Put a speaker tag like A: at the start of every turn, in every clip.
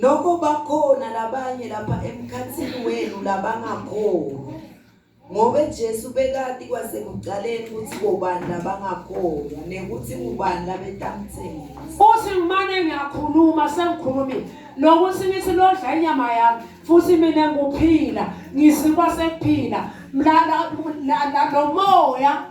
A: Noko
B: bakhona labanye lapha emkhathini wenu labangakholwa. Ngoba Jesu bekati kwasekuqaleni ukuthi bobani labangakholwa nekuthi ubani labetamthengisa. Futhi ngimane
A: ngiyakhuluma sengikhulumile lokuthi ngithi lodla inyama yami futhi mina nguphila ngisikwa sekuphila mlala lo moya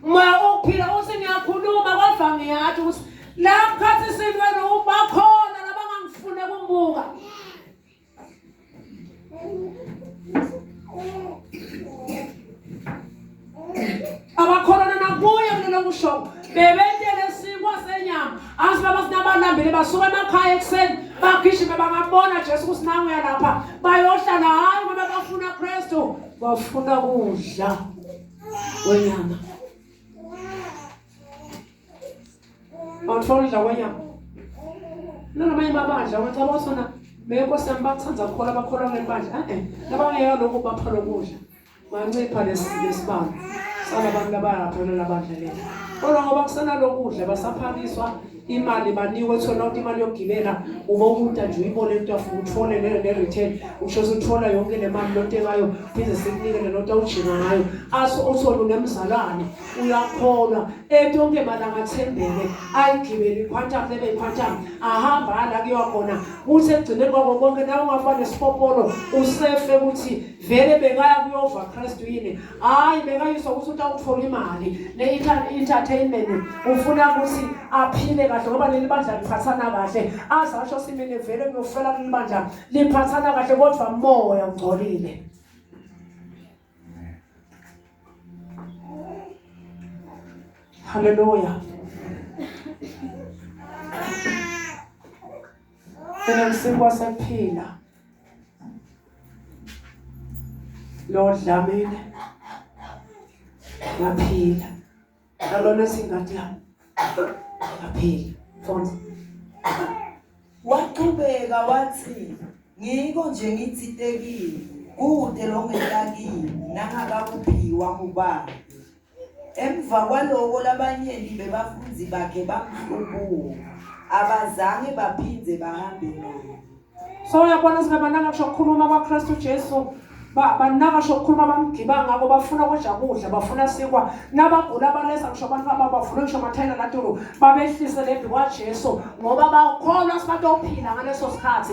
A: Moya okuphila uthi ngiyakhuluma kodwa ngiyathi ukuthi la khathi sintweni ubakhona nabangangifune kumbuka. Abakholana nakuye kulelo kusho bebetele sikwa senyama azi baba sinabalambile basuka emakhaya ekuseni bagijime bangabona Jesu ukuthi nangu yalapha bayohlala hayi ngoba bafuna Kristu bafuna kudla wenyama awuthola wenyama nangamanye amabandla wacaba usona beyenkosi yami bakuthanda kukhona abakholwa kuleli bandla e-e nabangeka lokhu bapha lokudla bancipha lesibalo salabantu abayaphelela abadla leli kodwa ngoba kusenalokudla basaphakiswa imali banikwe kuthiwa nonke imali yokugibela uma umuntu nje uyibone into afuna uthole leyo ne-return usho suthola yonke le mali lonto ekayo phinde sikunikele lonto awujima ngayo aso uthole unemzalwane uyakholwa etonke malanga athembele ayigibele iquantum lebe iquantum ahamba ala kuyiwa khona kuthi ekugcineni kwako konke nawe ungafane sipopolo usefe ukuthi vele bekaya kuyova kristu yini hayi bekayizwa ukuthi utawuthola imali ne-entertainment ufuna ukuthi aphile kahle ngoba leli bandla liphathana kahle aze asho simine vele ngiyofela kuleli bandla liphathana kahle kodwa moya ungcolile halleluya Then I'm still was a pillar. Lord Dlamini ngaphila nalona singati yami ngaphila fonza
B: waqhubeka wathi ngiko nje ngithitekile kude lo ngetakile nangakakuphiwa ngubani Emva kwaloko labanyenti bebafundzi bakhe bamhlubuka, abazange baphindze bahambe naye. So uyabona
A: singabanaka kusho kukhuluma kwaKristu Jesu banaka sho kukhuluma bamgiba ngako bafuna kudla kudla bafuna sikwa nabagula balesa kusho abantu ababavule kusho amathayela latulu babehlise lembi kwaJesu ngoba bakholwa sibatophila ngaleso sikhathi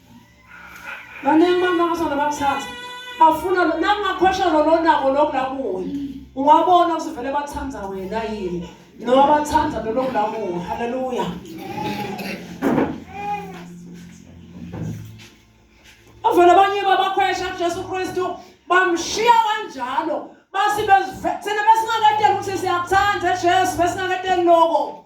A: Baningi abantu abasanda bakuthatha. Bafuna nangakhosha lolonako lokulakuwe. Ungabona usivele bathanda wena yini? Noma bathanda lolokulakuwe. Hallelujah. Avela abanye babakhwesha kuJesu Kristu bamshiya kanjalo basi bezivethene besingakadeli ukuthi siyakuthanda Jesu besingakadeli lokho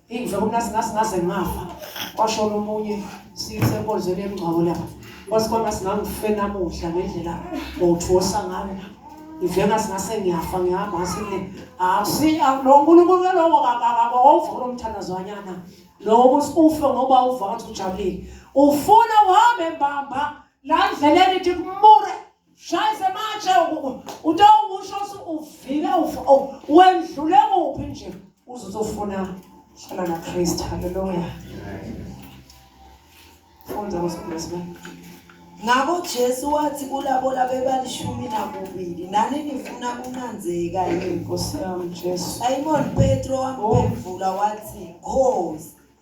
A: Ingizwe kunasi ngasi ngaze ngafa. Kwashona omunye siyisenkonzweni yemngcwabo lapha. Kwasikona singangife namuhla ngendlela ngothosa ngayo. Ngivela singase ngiyafa ngihamba ngasile. Asi lo nkulunkulu lowo kakakabo wawuvula umthandazo wanyana. Lowo ukuthi ufe ngoba uva ukuthi ujabulile. Ufuna uhambe mbamba la ndleleni ithi kumure. shayise matshe uto usho uvile oh, wendlule kuphi nje uzozofuna hlala nakristu halleluya funda ngosibulesibele ngakho
B: jesu wathi kulabo labebalishumi nakubili nani nifuna kunanzeka yini nkosi yami jesu
A: simoni petro
B: wamphendvula wathi khosi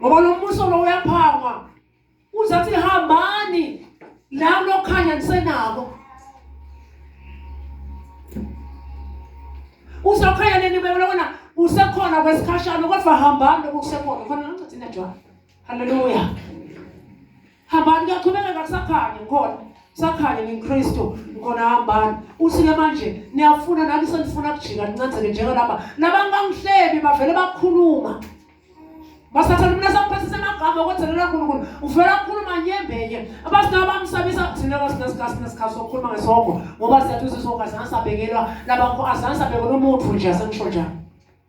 A: ngoba lo mbuso lo uyaphangwa uzathi hambani la lokhanya nisenako uzokhanya nini bebona usekhona kwesikhashana kodwa hambani lokusekhona khona ngicathi najwayo Haleluya. Hambani kuyaqhubeka kusakhanya ngikhona. Sakhanya ngiNkristu ngikhona hambani. Usike manje niyafuna nami senifuna kujika nincazeke njalo laba. Nabantu bangihlebi bavele bakhuluma. Basathatha mina sakuphasisa amagama okwenzelela uNkulunkulu. Uvela akhuluma nyembenye. Abasinawo bamsabisa thina kasinasikazi nesikhathi sokukhuluma ngesongo ngoba siyathuza isongo azange sabekelwa labakho azange sabekelwa umuntu nje asengisho njalo.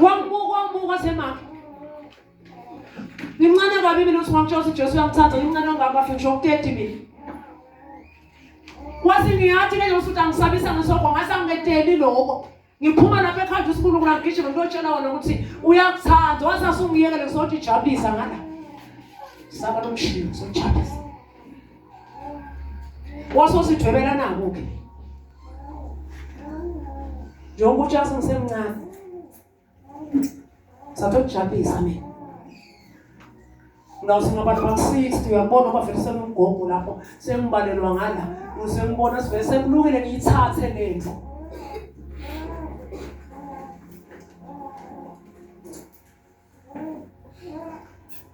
A: Wambuka wambuka wasemaka. Ngimncane kabi mina uthi ngakutshela ukuthi Jesu uyangithanda ngimncane ongaka afike ngisho ukuteti mina. Wathi ngiyathi ke ngifuthi angisabisa ngesoko ngase angiketeli lokho. Ngiphuma lapha ekhanda usikhulu kula ngigijima ngiyotshela wona ukuthi uyakuthanda wathi asungiyekele ngizothi jabulisa ngala. Saba lomshini sojabulisa. wasosidwebela nabo ke njengoba uJason semncane satokujabhisa mina ngawuthi ngabantu ba-60 uyabona uba vele senomgogo lapho sengibalelwa ngala usengibona sivele sekulungile ngiyithathe le ndlu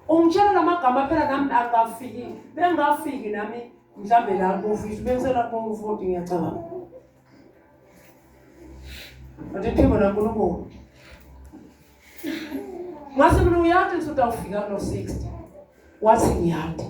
A: ungitshela lamagama phela nami akafiki bengafiki nami mhlambe la bofisi bensela komfoti ngiyacabanga but iphimbo lankulunkulu ngase mina uyathi ngisuthi awufika kulo 60 wathi ngiyanda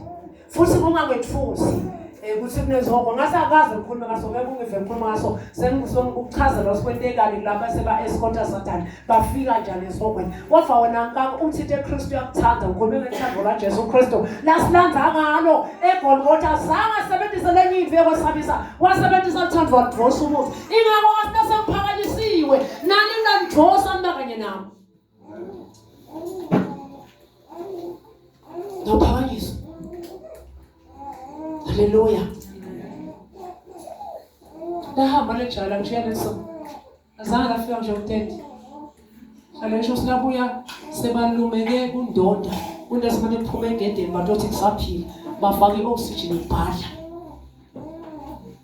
A: futhi kungakwethusi eh, ukuthi kunezoko ngase akazi ukukhuluma ngaso ngeke ungive ngikhuluma ngaso sengizonga ukuchaza lo sikwentekani kulaba seba-escota satani bafika njani esihogweni kodwa wena nkaka uthi into ekristu yakuthanda ukhulume ngethando lajesu kristu lasilanda ngalo egolgotha zange asebenzise lenye into yokwesabisa wasebenzisa luthando wadrosa umuthi ingako wasinasemphakanyisiwe nani nanidrosa mna kanye nami Ngaphakanyiswa. Haleluya. Ndahamba lejala ngishiya leso. Azange lafika nje umthetho. Alesho sinabuya sebalumeke kundoda. Kunto esimane kuphume egedeni bathi othi kusaphila. Bafake i-oxygen ibhadla.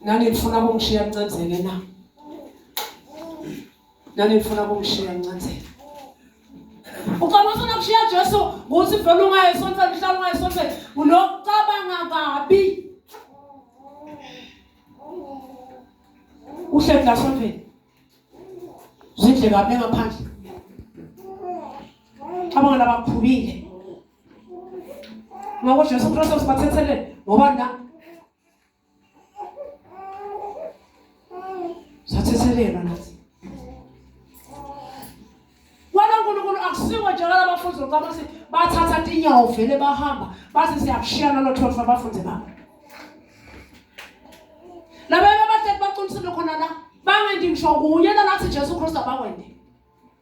A: Nani nifuna kungishiya ncancele na? Nani nifuna kungishiya ncancele? Ucabanga ufuna kushiya Jesu ukuthi vele ungaye sonke mhlawumbe ungaye sonke unokucabanga kabi. Uhleli la sonke. Zindle kabi ngaphandle. Abangela bakhubile. ngoko jesu kristu sibathethelele ngoba na sathethelelwa nathi wena nkulunkulu akusiwo njengala bafundi lokamasi bathatha tinyawo vele bahamba bathi siyakushiya nalo thotho abafundi babo labaye babahleki baqinisile khona la bangendi ngisho kunye nalathi jesu kristu abakwende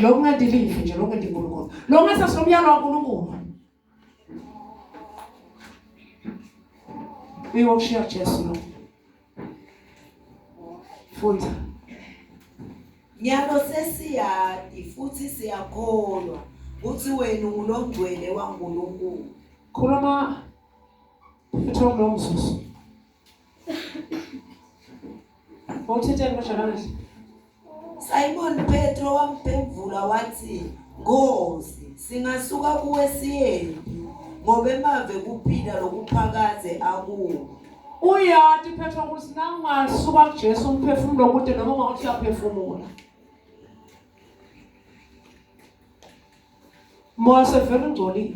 A: Lo kungadilivi nje lo kungendi uNkulunkulu. Lo ngase sinomyalo kaNkulunkulu. Uyoshiya Jesu lo. Funda.
B: Nyalo sesiyadi futhi siyakholwa ukuthi wena ungulongcwele waNkulunkulu. Khuluma
A: futhi ngomzuzu. Wawuthetheni kodwa namanje?
B: Simon Petro wamphendula wathi, Nkosi, singasuka kuwe siyephi? Ngoba emave kuphila lokuphakaze akuwo. Uyati
A: Petro ukuthi nangasuka kuJesu umphefumulo kude noma ungathi uyaphefumula. Moya sevele ungcolile.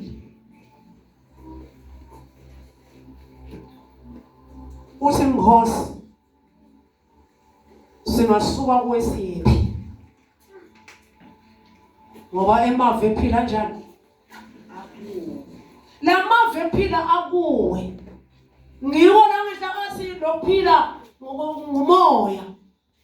A: uthi mkhosi singasuka kwesiphi ngoba emave ephila njani lamave ephila akuwe ngiwo la ngihlakathi lokuphila ngomoya